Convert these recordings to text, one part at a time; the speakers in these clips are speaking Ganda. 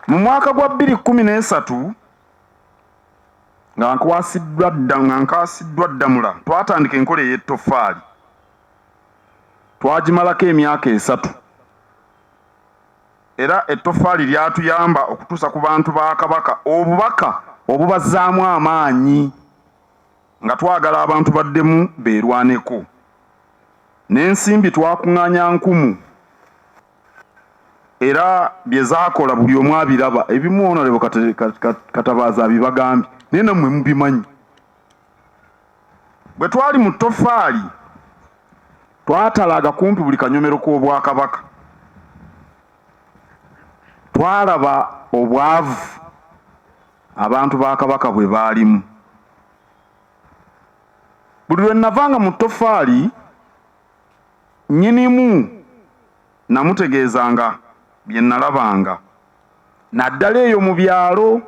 Mu mwaka gwa bbiri kkumi n'esatu nga nkwasiddwa dda nga nkaasiddwa Ddamula twatandika enkola ey'ettoffaali twagimalako emyaka esatu era ettoffaali lyatuyamba okutuusa ku bantu ba Kabaka obubaka obubazzaamu amaanyi nga twagala abantu baddemu beerwaneko n'ensimbi twakung'anya nkumu. era bye zaakola buli omu abiraba ebimu onalebo katabaaza abibagambye naye nammwe mubimanyi bwe twali mu ttofaali twatalaaga kumpi buli kanyomero k'obwakabaka twalaba obwavu abantu ba kabaka bwe baalimu buli lwe navanga mu ttofaali Nnyinimu nnamutegeezanga bye nnalabanga naddala eyo mu byalo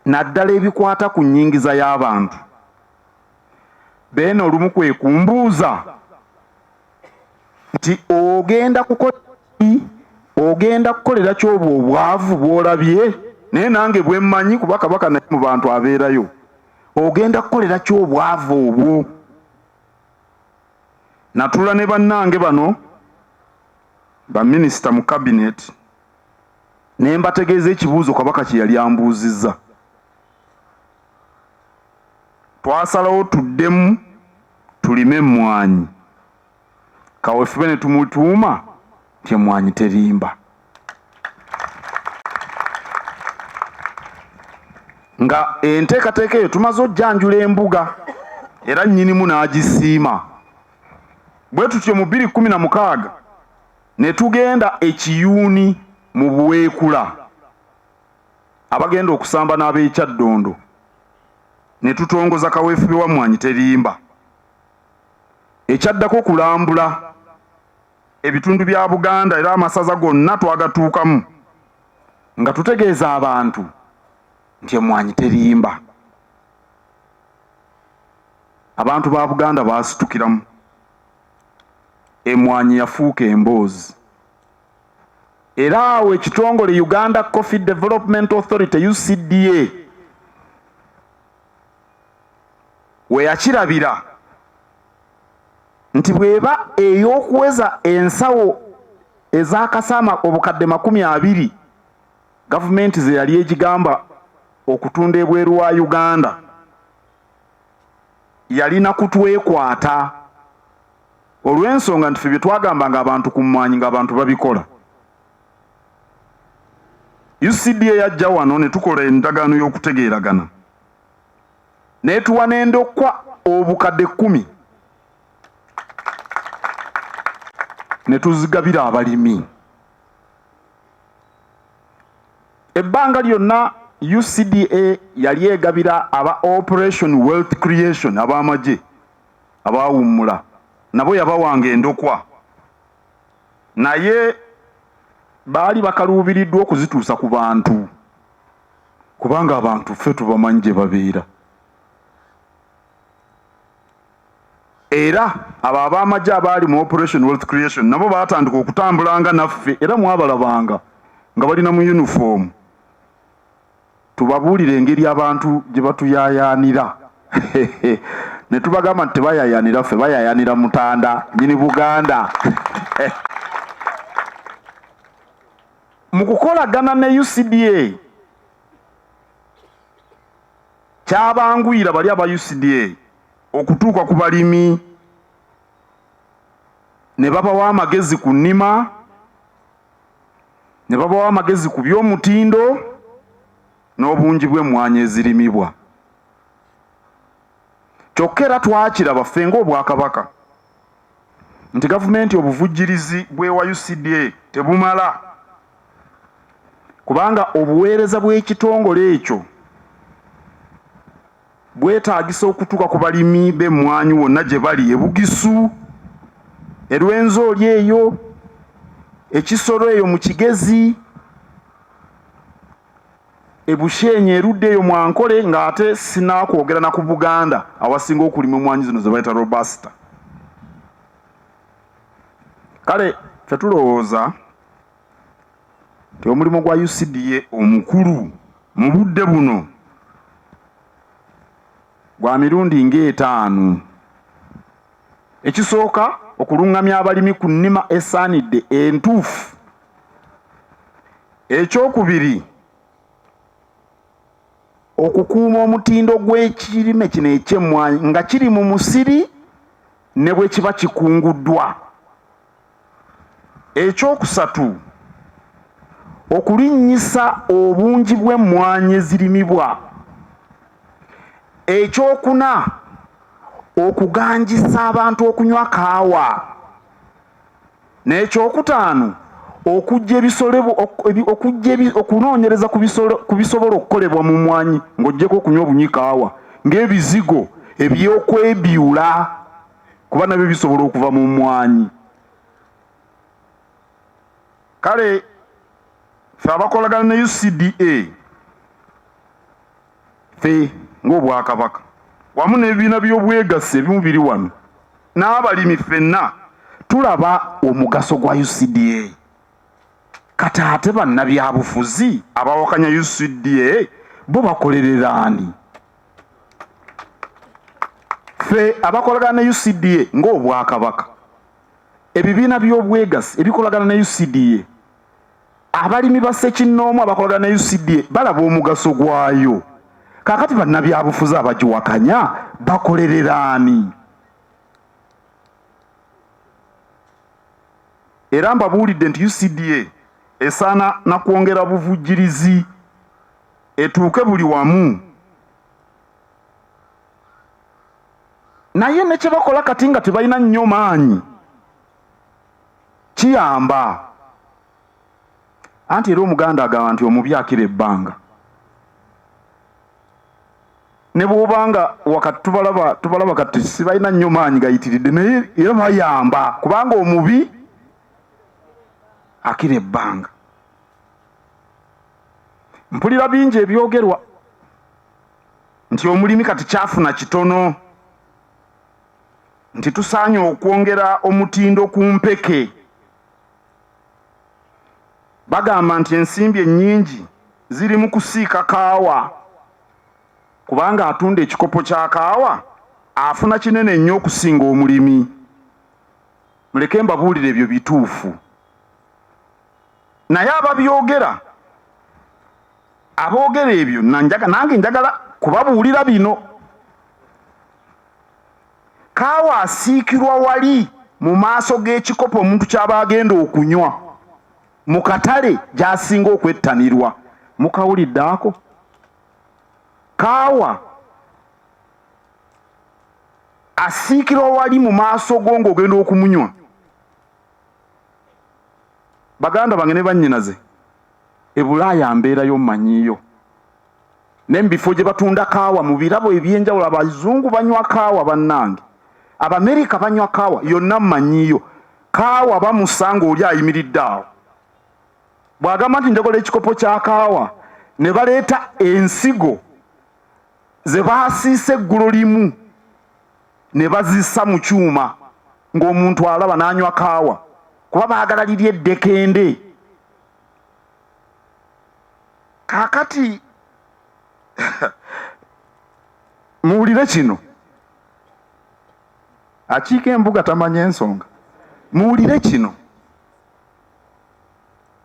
naddala ebikwata ku nnyingiza y'abantu. Beene olumu kwe kumbuuza nti ogenda kukola ki, ogenda kukolera ki obwo obwavu bw'olabye? Naye nange bwe mmanyi kuba Kabaka naye mu bantu abeerayo ogenda kukolera ki obwavu obwo natula ne bannange bano baminisita mu kabineti ne mbategeeza ekibuuzo kabaka kye yali ambuuzizza twasalawo tuddemu tulime emmwanyi kawefube ne tumutuuma nti emwanyi terimba nga enteekateeka eyo tumaze ojjanjula embuga era nnyinimu n'agisiima bwe tutyo mu bbiri kkumi na mukaaga ne tugenda ekiyuuni mu buweekula abagenda okusamba n'ab'ekyaddondo ne tutongoza kaweefube wa mmwanyi terimba Ekyaddako kulambula ebitundu bya Buganda era amasaza gonna twagatuukamu nga tutegeeza abantu nti emmwanyi terimba. Abantu ba Buganda baasitukiramu, emmwanyi yafuuka emboozi era awo ekitongole Uganda Coffee Development Authority, UCDA, we yakirabira nti bw'eba ey'okuweza ensawo ezakasa obukadde makumi abiri gavumenti ze yali egigamba okutunda ebweru wa Uganda yalina kutwekwata olw'ensonga nti ffe bye twagambanga abantu ku mmwanyi ng'abantu babikola. UCDA yajja wano ne tukola endagaano y'okutegeeragana n'etuwa n'endokwa obukadde kkumi ne tuzigabira abalimi. Ebbanga lyonna UCDA yali egabira aba Operation Wealth Creation ab'amagye abaawummula nabo yabawanga endokwa. Naye baali bakaluubiriddwa okuzituusa ku bantu kubanga abantu ffe tubamanyi gye babeera. Era abo ab'amagye abaali mu Operation Wealth Creation nabo baatandika okutambulanga naffe era mwabalabanga nga bali na mu yunifoomu. Tubabuulira engeri abantu gye batuyaayaanira ne tubagamba nti tebayaayaanira ffe, bayaayaanira Mutanda, nnyini Buganda. Mu kukolagana ne UCDA, kyabanguyira bali aba UCDA okutuuka ku balimi ne babawa amagezi ku nnima, ne babawa amagezi ku by'omutindo n'obungi bw'emmwanyi ezirimibwa. Kyokka era twakiraba ffe ng'Obwakabaka nti gavumenti obuvujjirizi bw'ewa UCDA tebumala kubanga obuweereza bw'ekitongole ekyo bwetaagisa okutuuka ku balimi b'emmwanyi wonna gye bali e Bugisu, e Rwenzori eyo, e Kisoro eyo mu Kigezi, e Bushenyi erudda eyo mu Ankole ng'ate sinaakwogera na ku Buganda awasinga okulimwa emmwanyi zino ze bayita Robusta. Kale ffe tulowooza nti omulimu gwa UCDA omukulu mu budde buno gwa mirundi ng'etaano. Ekisooka okulungamya abalimi ku nnima esaanidde entuufu. Ekyokubiri okukuuma omutindo gw'ekirime kino eky'emmwanyi nga kiri mu musiri ne bwe kiba kikunguddwa. Ekyokusatu, okulinnyisa obungi bw'emmwanyi ezirimibwa. Ekyokuna, okuganjisa abantu okunywa kaawa. N'ekyokutaano, okujja ebisolo okujja okunoonyereza ku bisolo ku bisobola okukolebwa mu mmwanyi ng'oggyeko okunywa obunywi kaawa ng'ebizigo eby'okwebiula. kuba nabyo bisobola okuva mu mmwanyi kale fe abakolagana ne ucda fe ng'obwakabaka wamu n'ebibiina by'obwegassi ebimu biri wano n'abalimi ffenna tulaba omugaso gwa ucda kati ate bannabyabufuzi abawakanya ucda bo bakolerera ani ffe abakolagana ne ucda ng'obwakabaka ebibiina by'obwegassi ebikolagana ne ucda abalimi ba ssekinnoomu abakolagana ne ucda balaba omugaso gwayo kakati bannabyabufuzi abagiwakanya bakolerera ani era mbabuulidde nti ucda esaana na kwongera buvujjirizi etuuke buli wamu naye ne kye bakola kati nga tebalina nnyo maanyi kiyamba anti era omuganda agamba nti omubi akira ebbanga ne bw'oba nga wakati tubalaba tubalaba kati sibalina nnyo maanyi gayitiridde naye era bayamba kubanga omubi akira ebbanga mpulira bingi ebyogerwa nti omulimi kati kyafuna kitono nti tusaanye okwongera omutindo ku mpeke bagamba nti ensimbi ennyingi ziri mu kusiika kaawa kubanga atunda ekikopo kya kaawa afuna kinene nnyo okusinga omulimi muleke mbabuulire ebyo bituufu Naye ababyogera aboogera ebyo nange njagala kubabuulira bino. Kaawa asiikirwa wali mu maaso g'ekikopo omuntu ky'aba agenda okunywa mu katale gy'asinga okwettanirwa. Mukawulidde ako? Kaawa asiikirwa wali mu maaso go ng'ogenda okumunywa. baganda bange ne bannyinaze e bulaaya mbeerayo mmanyiyo ne mu bifo gye batunda kaawa mu birabo eby'enjawulo abazungu banywa kaawa bannange abamerika banywa kaawa yonna mmanyiyo kaawa bamusa ng'oli ayimiridde awo bw'agamba nti njagola ekikopo kya kaawa ne baleeta ensigo ze baasiise eggulo limu ne bazissa mu kyuma ng'omuntu alaba n'anywa kaawa kuba baagala liri eddekende. Kaakati muwulire kino, akiika embuga tamanya ensonga. Muwulire kino,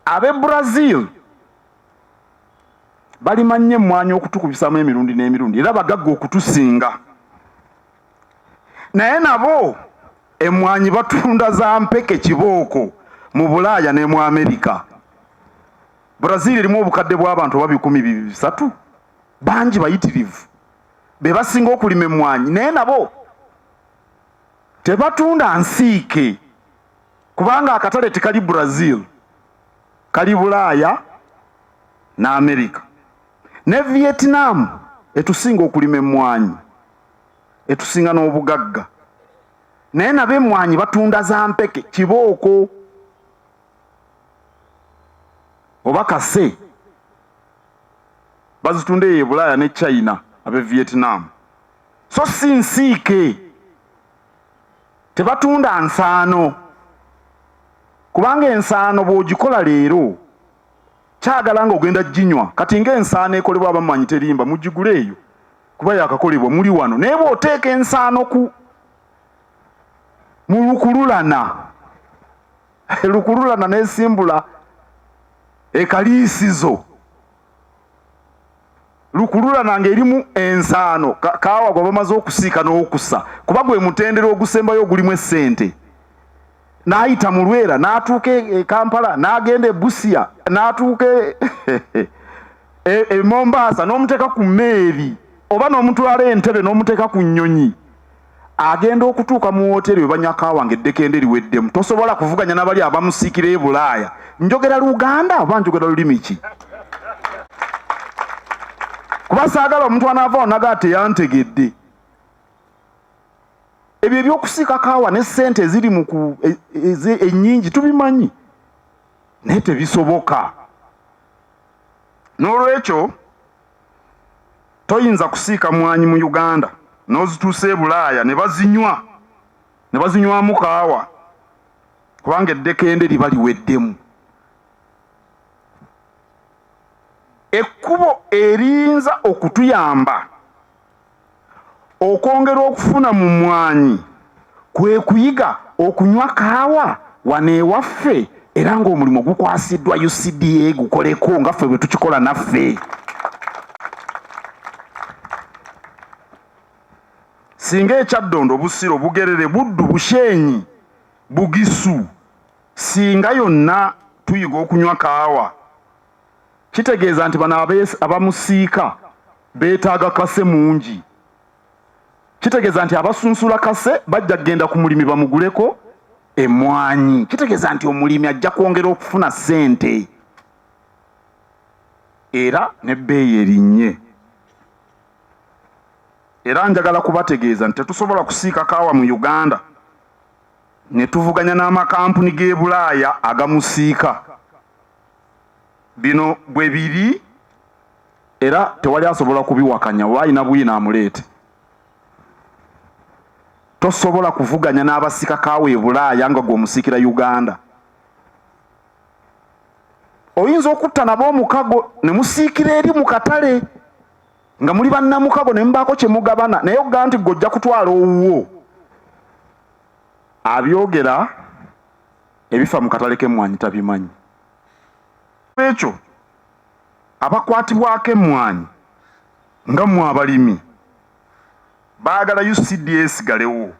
ab'e Brazil balima nnyo emmwanyi okutukubisamu emirundi n'emirundi era bagagga okutusinga naye nabo emmwanyi batunda za mpeke kibooko mu bulaaya ne mu amerika brazil erimu obukadde bw'abantu oba bikumi bisatu bangi bayitirivu be basinga okulima emmwanyi naye nabo tebatunda nsiike kubanga akatale tekali brazil kali Bulaaya ne Amerika. Ne Vietnam etusinga okulima emmwanyi, etusinga n'obugagga naye nabo emmwanyi batunda za mpeke kibooko oba kase bazitunda eyo e Bulaaya ne China abe Vietnam so si nsiike. Tebatunda nsaano kubanga ensaano bw'ogikola leero kyagala nga ogenda ginywa kati nga ensaano ekolebwa abamanyi terimba mugigule eyo kuba yakakolebwa muli wano naye bw'oteeka ensaano ku mu lukululana lukululana n'esimbula ekaliisizo. lukululana ng'erimu ensaano kaawa gwe bamaze okusiika n'okusa kuba gwe mutendera ogusembayo ogulimu essente n'ayita mu lwera n'atuuka e, e kampala n'agenda e busia n'atuuka e, e mombaasa n'omuteeka ku meeri oba n'omutwala entebe n'omuteeka ku nnyonyi Agenda okutuuka mu wooteeri we banywa kaawa ng'eddekende liweddemu. Tosobola kuvuganya na bali abamusikira e Bulaaya. Njogera Luganda oba njogera lulimi ki? Kuba saagala omuntu anaava wano nagaa teyantegedde. Ebyo eby'okusiika kaawa ne ssente eziri mu ku e, e, ennyingi tubimanyi, naye tebisoboka. N'olwekyo toyinza kusiika mwanyi mu uganda n'ozituusa e bulaaya ne bazinywa ne bazinywamu kaawa kubanga eddekende liba liweddemu ekkubo eriyinza okutuyamba Okwongera okufuna mu mmwanyi kwe kuyiga okunywa kaawa wano ewaffe era ng'omulimu gukwasiddwa UCDA gukoleko nga ffe bwe tukikola naffe. Singa e Kyaddondo, Busiro, Bugerere, Buddu, Bushenyi, Bugisu, Ssinga yonna tuyiga okunywa kaawa kitegeeza nti bano abamusiika beetaaga kase mungi. Kitegeeza nti abasunsula kase bajja kugenda ku mulimi bamuguleko emmwanyi. Kitegeeza nti omulimi ajja kwongera okufuna ssente era n'ebbeeyi erinnye. Era njagala kubategeeza nti tetusobola kusiika kaawa mu Uganda ne tuvuganya n'amakampuni g'e Bulaaya agamusiika. Bino bwe biri era tewali asobola kubiwakanya oba alina bwino amuleete. Tosobola kuvuganya n'abasika kaawa e Bulaaya nga gwe omusiikira Uganda. Oyinza okutta nabo omukago ne musiikira eri mu katale nga muli bannamukago ne mubaako kye mugabana naye okugaa nti gwe ojja kutwala owuwo abyogera ebifa mu katale k'emmwanyi tabimanyi. N'olwekyo abakwatibwako emmwanyi nga mmwe abalimi baagala UCDA esigalewo.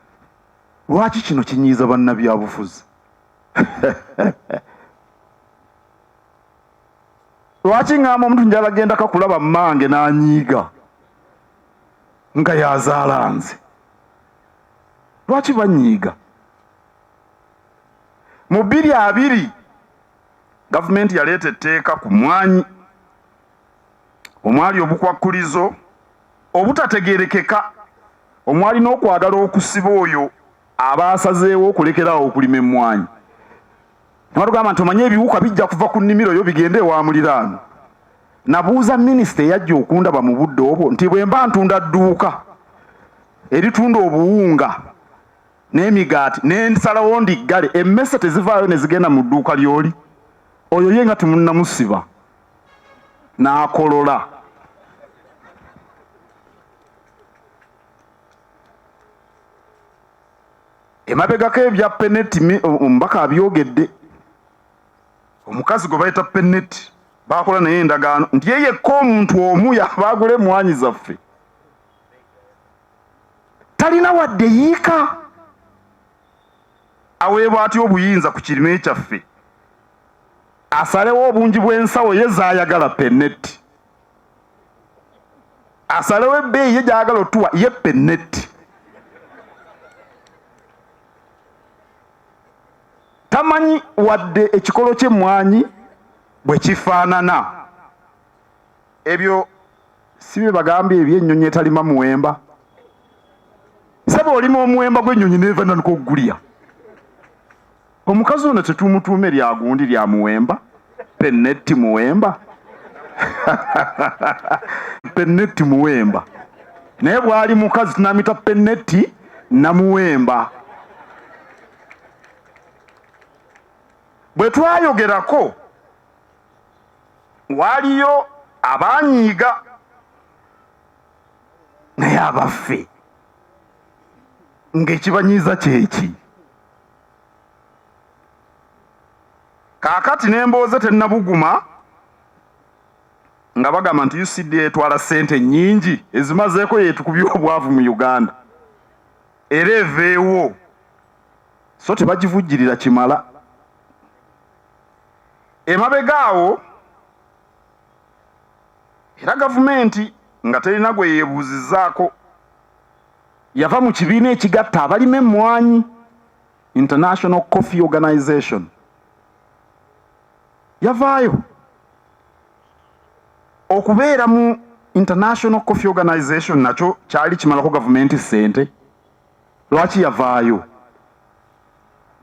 Lwaki kino kinyiiza bannabyabufuzi? Lwaki ng'amba omuntu njala gendako kulaba mmange n'anyiiga nga y'azaala nze? Lwaki banyiiga? mu bbiri abiri gavumenti yaleeta etteeka ku mmwanyi omwali obukwakkulizo obutategeerekeka omwali n'okwagala okusiba oyo aba asazeewo okulekeraawo okulima emmwanyi nabatugamba nti omanye ebiwuka bijja kuva ku nnimiro yo bigende ewa muliraano nabuuza minisita eyajja okundaba mu budde obwo nti bwe mba ntunda dduuka eritunda obuwunga n'emigaati nensalawo ndiggale emmese tezivaayo ne zigenda mu dduuka ly'oli oyo ye nga temunnamusiba n'akolola emabegako ebya peneti omubaka abyogedde omukazi gwe bayita peneti baakola naye endagaano nti ye yekka omuntu omu yabaagula emwanyi zaffe talina wadde yiika aweebwa atya obuyinza ku kirime kyaffe asalewo obungi bw'ensawo ye zayagala penetti asalewo ebbeeyi ye gyayagala otuwa ye penetti tamanyi wadde ekikolo ky'emmwanyi bwe kifaanana ebyo si bye bagambye ebyennyonyi etalima muwemba saba olima omuwemba gw'ennyonyi neeva nanuka okugulya omukazi ono tetumutuuma eryagundi lya muwemba penetti muwemba penetti muwemba naye bwali mukazi tunamita penetti namuwemba bwe twayogerako Waaliyo abaanyiiga naye abaffe ng'ekibanyiiza kyeki? Kaakati n'embooze tennabuguma nga bagamba nti UCDA etwala ssente nnyingi ezimazeeko y'etukubye obwavu mu Uganda era eveewo so tebagivujjirira kimala. Emabega awo era gavumenti nga terina gwe yeebuuzizzaako yava mu kibiina ekigatta abalima emmwanyi, International Coffee Organization, yavaayo. Okubeera mu International Coffee Organization nakyo kyali kimalako gavumenti ssente. Lwaki yavaayo?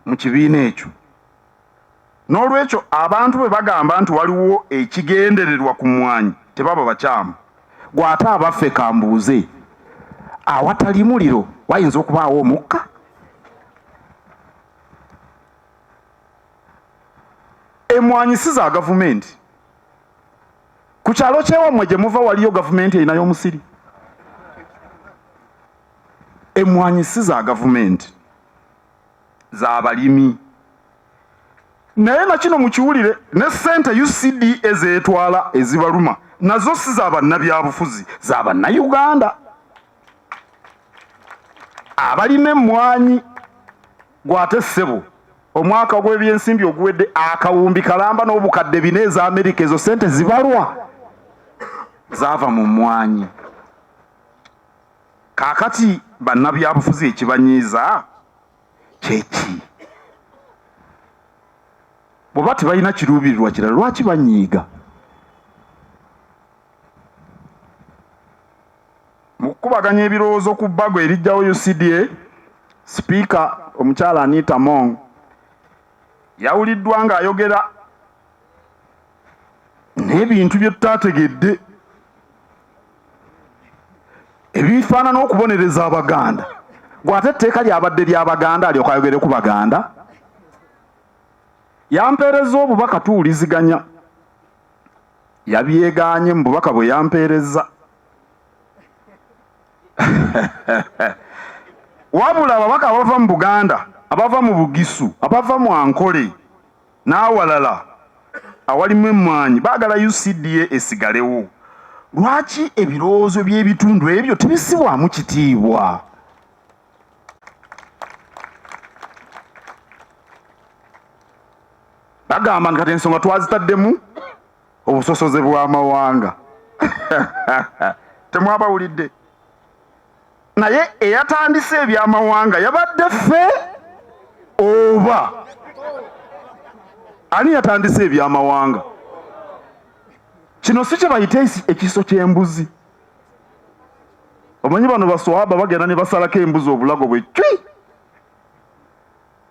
mu kibiina ekyo. N'olwekyo abantu bwe bagamba nti waliwo ekigendererwa ku mmwanyi tebaba bakyamu. Ggwe ate abaffe ka mbuuze, awatali muliro wayinza okubaawo omukka? Emmwanyi si za gavumenti. Ku kyalo ky'ewammwe gye muva waliyo gavumenti erinayo omusiri? Emmwanyi si za gavumenti, za balimi. Naye na kino mukiwulire, ne ssente UCDA z'etwala ezibaluma nazo si za bannabyabufuzi, za Bannayuganda abalima emmwanyi. Ggwe ate ssebo omwaka gw'ebyensimbi oguwedde akawumbi kalamba n'obukadde bina eza Amerika, ezo ssente zibalwa zaava mu mmwanyi. Kaakati bannabyabufuzi ekibanyiiza kye ki? Bw'oba tebalina kiruubirirwa kirala lwaki banyiiga? Mu kukubaganya ebirowoozo ku bbago eriggyawo UCDA, Sipiika omukyala Anita Among yawuliddwa ng'ayogera n'ebintu bye tutaategedde. ebifaanana okubonereza abaganda gwate etteeka lyabadde lyabaganda alyoka ayogere ku baganda yampeereza obubaka tuwuliziganya yabyeganye mu bubaka bwe yampeereza wabula ababaka abava mu buganda abava mu bugisu abava mu ankole n'awalala awalimu emmwanyi baagala UCDA esigalewo. Lwaki ebirowoozo by'ebitundu ebyo tebissibwamu kitiibwa? Bagamba nti kati ensonga twazitaddemu obusosoze bw'amawanga. Temwabawulidde? naye eyatandise ebyamawanga yabadde ffe oba ani yatandise ebyamawanga kino si kyebayita ekiso ky'embuzi omanyi bano baswaba bagenda ne basalako embuzi obulago bwe cwi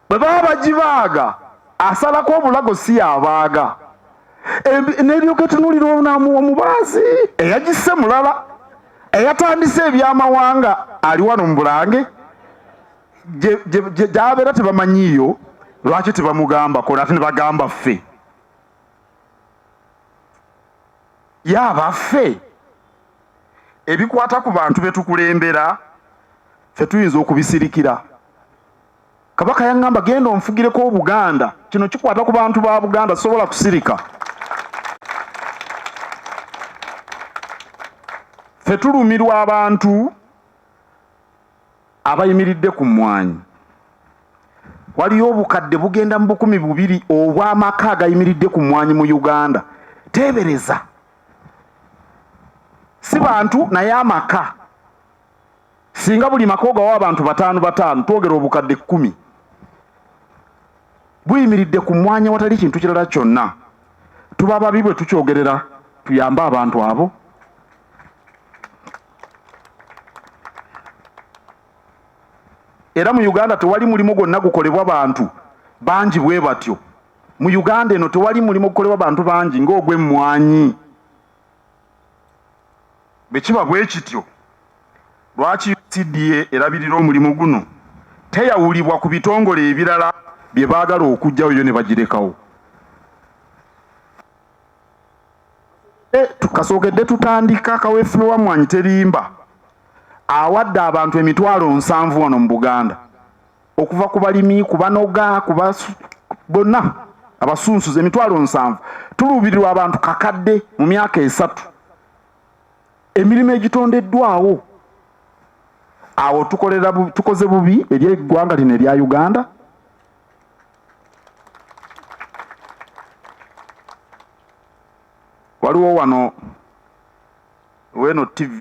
bwe baba bagibaaga asalako obulago si yabaaga neryoka etunulira omubaazi eyagisse mulala eyatandise ebyamawanga ali wano mu bulange gyabeera tebamanyiiyo lwaki tebamugambako nate nebagamba ffe yabaffe ebikwata ku bantu betukulembera fe tuyinza okubisirikira Kabaka yaŋŋamba genda onfugireko Obuganda, kino kikwata ku bantu ba Buganda, sisobola kusirika. Ffe tulumirwa abantu abayimiridde ku mmwanyi. Waliyo obukadde bugenda mu bukumi bubiri obw'amaka agayimiridde ku mmwanyi mu Uganda. Teebereza! Si bantu naye amaka. Singa buli maka ogawa abantu bataano bataano twogera obukadde kkumi buyimiridde ku mwanya watali kintu kirala kyonna. Tuba babi bwe tukyogerera tuyambe abantu abo. Era mu Uganda tewali mulimu gwonna gukolebwa bantu bangi bwe batyo. Mu Uganda eno tewali mulimu gukolebwa bantu bangi ng'ogw'emmwanyi. Bwe kiba bwe kityo, lwaki UCDA erabirira omulimu guno teyawulibwa ku bitongole ebirala bye baagala okuggyawo yo ne bagirekawo? Kasookedde tutandika kaweefube wa Mmwanyi Terimba awadde abantu emitwalo nsanvu wano mu Buganda. okuva ku balimi ku banoga ku bonna abasunsuzi emitwalo nsanvu tuluubirirwa abantu kakadde mu myaka esatu emirimu egitondeddwawo awo tukolera tukoze bubi eri eggwanga lino erya uganda waliwo wano weno tv